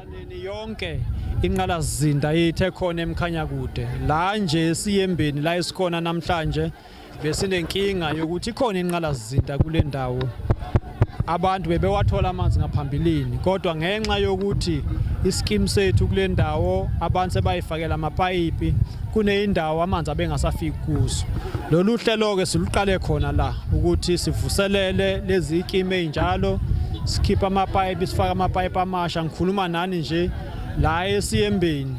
Ekusaneni yonke inqalazinda ithe khona emkhanya kude la nje siyembeni la esikhona namhlanje besinenkinga yokuthi ikhona inqalazinda kule ndawo abantu bebewathola amanzi ngaphambilini kodwa ngenxa yokuthi isikimu sethu kule ndawo abantu sebayifakela amapayipi kuneyindawo amanzi abengasafiki kuzo lolu hlelo-ke siluqale khona la ukuthi sivuselele lezi ikimi ezinjalo sikhipha amapayipi sifaka amapayipi amasha ngikhuluma nani nje la esiyembeni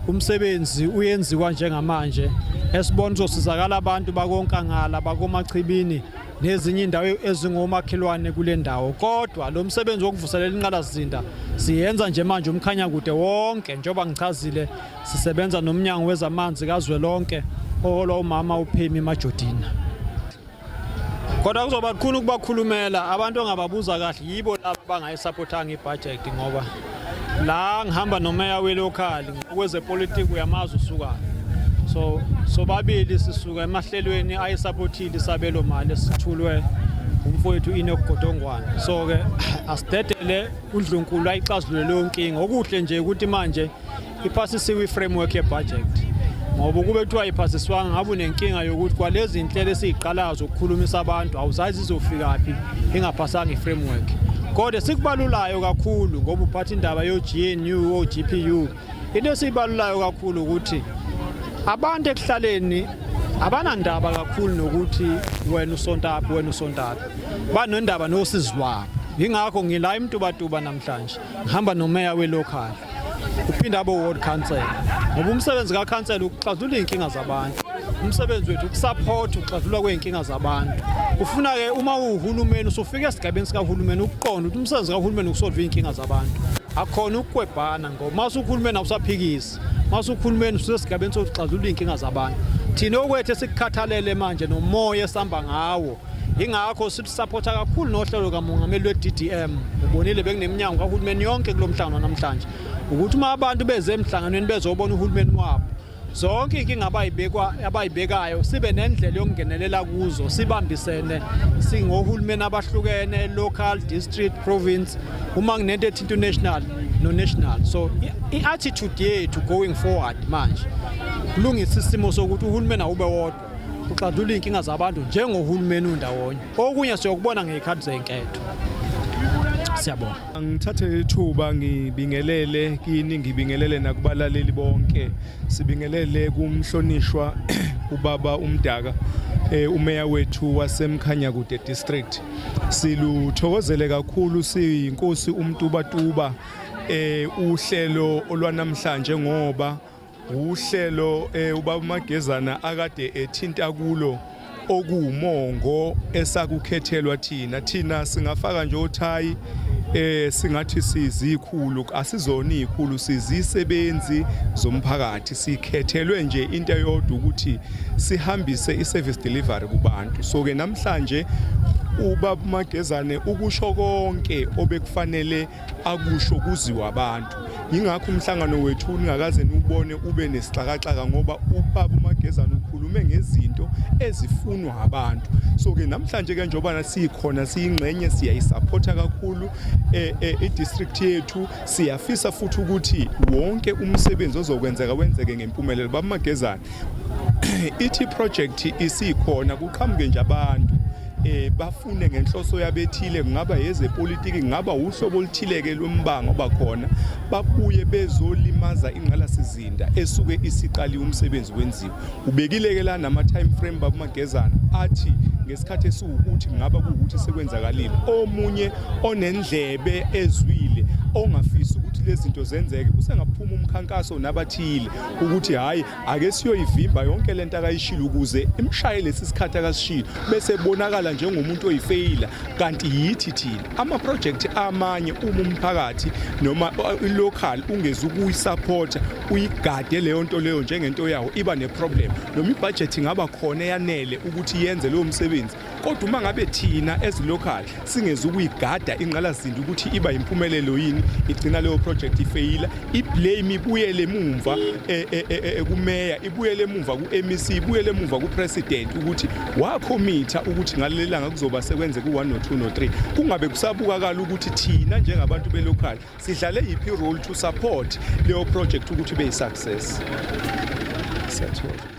umsebenzi uyenziwa njengamanje esibona uzosizakala abantu bakonkangala bakomachibini nezinye indawo ezingomakhelwane kule ndawo kodwa lo msebenzi wokuvuselela inqalazinda siyenza nje manje umkhanyakude wonke njengoba ngichazile Sisebenza nomnyango wezamanzi kazwelonke oholwa umama uPhemi Majodina. Kodwa kuzoba kukhulu ukubakhulumela abantu ongababuza kahle yibo laba bangayisaphotanga ibudget ngoba la ngihamba nomeya welokhali ngokwezepolitiki uyamazi usukayo so sobabili sisuka emahlelweni ayisaphothile isabelo mali esithulwe umfowethu inokugodongwana so-ke asidedele undlunkulu ayixazulule leyo nkinga okuhle nje ukuthi manje iphasisiwe i-framework ye-budget ngoba ukube kuthiwa iphasiswanga ngabe unenkinga yokuthi kwalezi nhlelo esiyiqalayo zokukhulumisa abantu awuzazi izofikaphi ingaphasanga i-framework kodwa sikubalulayo kakhulu ngoba uphatha indaba yo-gnu o-gpu into esiyibalulayo kakhulu ukuthi abantu ekuhlaleni abanandaba kakhulu nokuthi wena usontaphi wena usontaphi banondaba nosizi lwabo yingakho ngila emtubatuba namhlanje ngihamba nomeya welocal uphinde abe ward council ngoba umsebenzi kakhansela ukuxazulula iy'nkinga zabantu umsebenzi wethu ukusaphotha ukuxazulula kwey'nkinga zabantu kufuna-ke uma uwuhulumeni usufika esigabeni sikahulumeni ukuqonda ukuthi umsebenzi kahulumeni ukusolva iy'nkinga zabantu akhona ukukwebhana ngoba uma usuhulumeni awusaphikisi uma usuhulumeni ususesigabeni sokuxazulula iy'nkinga zabantu thina okwethu esikukhathalele manje nomoya esihamba ngawo ingakho silusapotha kakhulu nohlelo kamongameli lwe-ddm ubonile bekuneminyango kahulumeni yonke kulo mhlangano namhlanje ukuthi uma abantu beze emhlanganweni bezobona uhulumeni wabo zonke inkinga abayibekwa abayibekayo sibe nendlela yokungenelela kuzo sibambisene singohulumeni abahlukene local district province uma kunento ethi international no national so i-attitude yethu going forward manje kulungisa isimo sokuthi uhulumeni awube wodwa uxazulula iy'nkinga zabantu njengohulumeni undawonye okunye siyokubona ngey'khathi zey'nketho siyabonga ngithathe ithuba ngibingelele kini ngibingelele nakubalaleli bonke sibingelele kumhlonishwa ubaba umdaka eh, umeya wethu wasemkhanyakude district siluthokozele kakhulu siyinkosi umtubatuba eh uhlelo olwanamhlanje ngoba Uhlelo eh, ubaba uMagezana akade ethinta kulo okuwumongo esakukhethelwa thina thina singafaka nje othayi eh singathi sizikhulu asizona izikhulu sizisebenzi zomphakathi sikhethelwe nje into eyodwa ukuthi sihambise iservice delivery kubantu so ke namhlanje ubaba Magezane ukusho konke obekufanele akusho kuziwa abantu yingakho umhlangano wethu ningakaze niwubone ube nesixakaxaka ngoba ubaba umagezana ukhulume ngezinto ezifunwa abantu so-ke namhlanje ke njengobana siyikhona siyingxenye siyayisapotha kakhulu eh, eh, i-district yethu siyafisa futhi ukuthi wonke umsebenzi ozokwenzeka wenzeke ngempumelelo baba magezana ithi project isikhona kuqhamuke nje abantu eh bafune ngenhloso yabethile kungaba yezepolitiki kungaba uhlobo oluthileke lombango obakhona babuye bezolimaza ingqalasizinda esuke isiqaliwe umsebenzi wenziwe ubekileke la nama time frame babumagezana athi ngesikhathi esiwukuthi kungaba kuwukuthi sekwenzakalile omunye onendlebe ezwile ongafisi ukuthi lezi zinto zenzeke usengaphuma umkhankaso nabathile ukuthi hhayi ake siyoyivimba yonke le nto akayishilo ukuze imshaye lesi sikhathi akasishilo bese bonakala njengomuntu oyifeyila kanti yithi thina amaprojekthi amanye uma umphakathi noma uh, ilocal ungeze ukuyisapota uyigade leyo nto leyo njengento yawo iba neproblem noma ibhajethi ingaba khona eyanele ukuthi yenze leyo msebenzi kodwa uma ngabe thina as local singezi ukuyigada ingqalazindi ukuthi iba yimpumelelo yini igcina leyo project ifeyila iblame ibuyele emumva e, e, e, ekumeya ibuyele emumva ku-mec ibuyele emumva kupresident ukuthi wakhomitha ukuthi ngaleli langa kuzoba sekwenze ku-1 no-2 no-3 kungabe kusabukakala ukuthi thina njengabantu belocal sidlale yiphi role to support leyo project ukuthi ibe yi-success siyathola